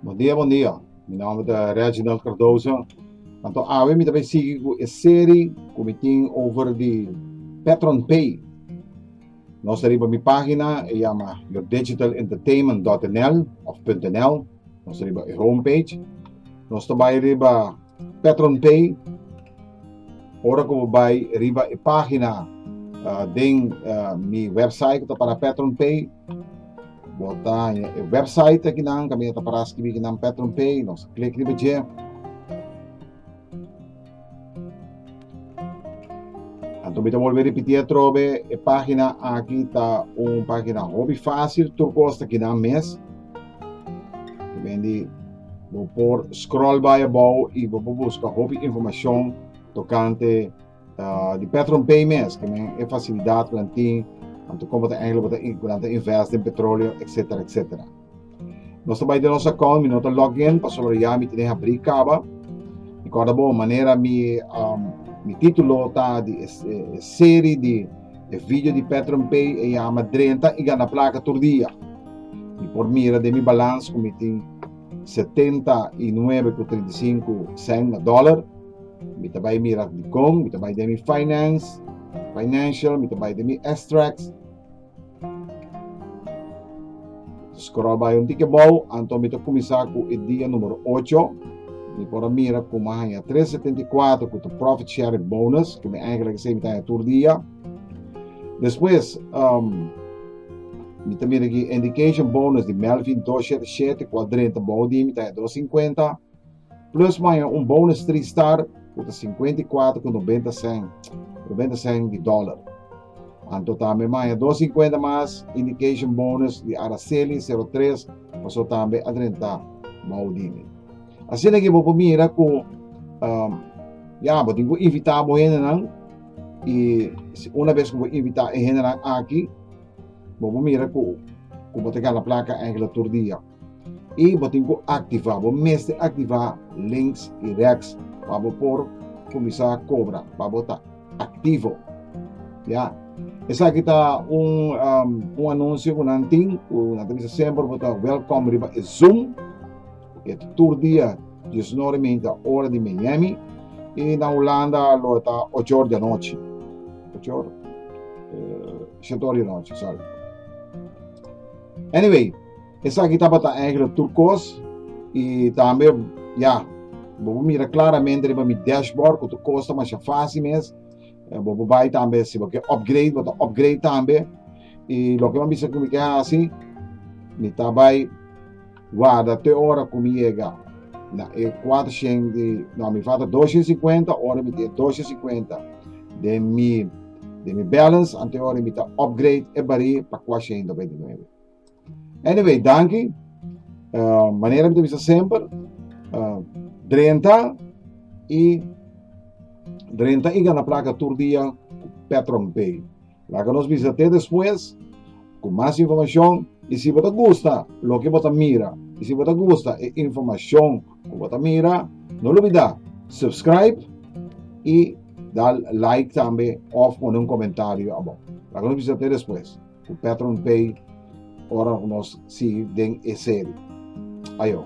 Bon dia bon dia mi nomber ta Reginald Cardoso anto awe mi ta bay sigui cu e serie cu mi tin over di Petron Pay. Nos ta riba mi página, e yama yourdigitalentertainment.nl of .nl. Nos ta riba e homepage. Nos ta bai riba Patron Pay. Ora ku bo bai riba e página uh, den uh, mi website ku ta para Patron Pay, bo ta haña e website aki nan, kami ta para skibi ki nan Patron Pay, nos klik riba dje. Anto mi ta bolbe ripití atrobe, e página aki ta un página hopi fásil, tur kos ta kinan mes. Ku den di bo por scroll bai abou i bo por buska hopi informashon tokante ah di PetronPay mes, ke men e fasilidat ku nan tin, anto kon bo ta hègè, bo ta bo ta invèst den petroleo, etsetera etsetera. Nos ta bai den nos account, mi no ta log in pasobra ya mi tene habrí caba. Mi corda bo manera mi um, mi titulo ta di e, e, e serie di e video di Petron Pay e llama Drenta y gana placa tur dia. Mi por mira de mi balans cu mi tin 79 cu 35 cent na dollar. Mi ta bai mira di con, mi ta bai de mi finance, financial, mi ta bai de mi extracts. Scroll bai un tiki bou, anto mi ta kuminsá ku e dia número ocho. Mi por a mira ku mi a haña tres setenta i kuater ku ta profit sharing bonus, ku mi eigenlijk esei mi ta haña tur dia. Despues, mi ta mira aki indication bonus di Melvin dos shete shete ku a drenta bou di mi ta haña dos singkuenta. Plus maña un bonus three star cu ta cincuenta y cuatro cu noventa cent, noventa cent di dollar. Anto tambe maña dos cincuenta mas indication bonus di Araceli zero tres paso tambe a drenta bou di mi. Asina que bo por mira cu um, ya bo tin cu invita bo hendenan y si una vez cu bo invita e hendenan aki bo por mira cu cu bo te gana placa eigenlijk tur dia. y bo tin cu activa bo mester activa links y rex pa bo por cuminsa cobra pa bo ta activo ya esaki ta un um anuncio cu nan tin cu nan ta bisa semper bo ta welcome riba e zoom e tur dia dies nor y minta ora di Miami y na Hulanda lo ta ocho ora di anochi ocho ora siete ora di anochi sorry anyway Esaki tabata eigenlijk tur kos i tambe ya bo por mira klaramente riba mi dashboard ku tur kos ta masha fásil mes. Eh, bo por bai tambe si bo ke upgrade, bo ta upgrade tambe. I loke mi bisa ku mi ke hasi, mi ta bai guarda te ora ku mi yega na e 400 di, no, mi falta 250 ora mi tin 250 den mi den mi balance, anto e ora mi ta upgrade e barí pa 499. Anyway, danki. Uh, manera mi te bisa semper, uh, drenta i drenta i gana placa tur dia Petron Pay. Laga nos bisa te después con más información y si bota gusta lo que bota mira y si bota gusta e información que bota mira, no olvida subscribe y dar like también of poner un comentario abajo. Laga nos bisa te después. Cu Patron Bay ora cu nos sigui den e serie. Ajo!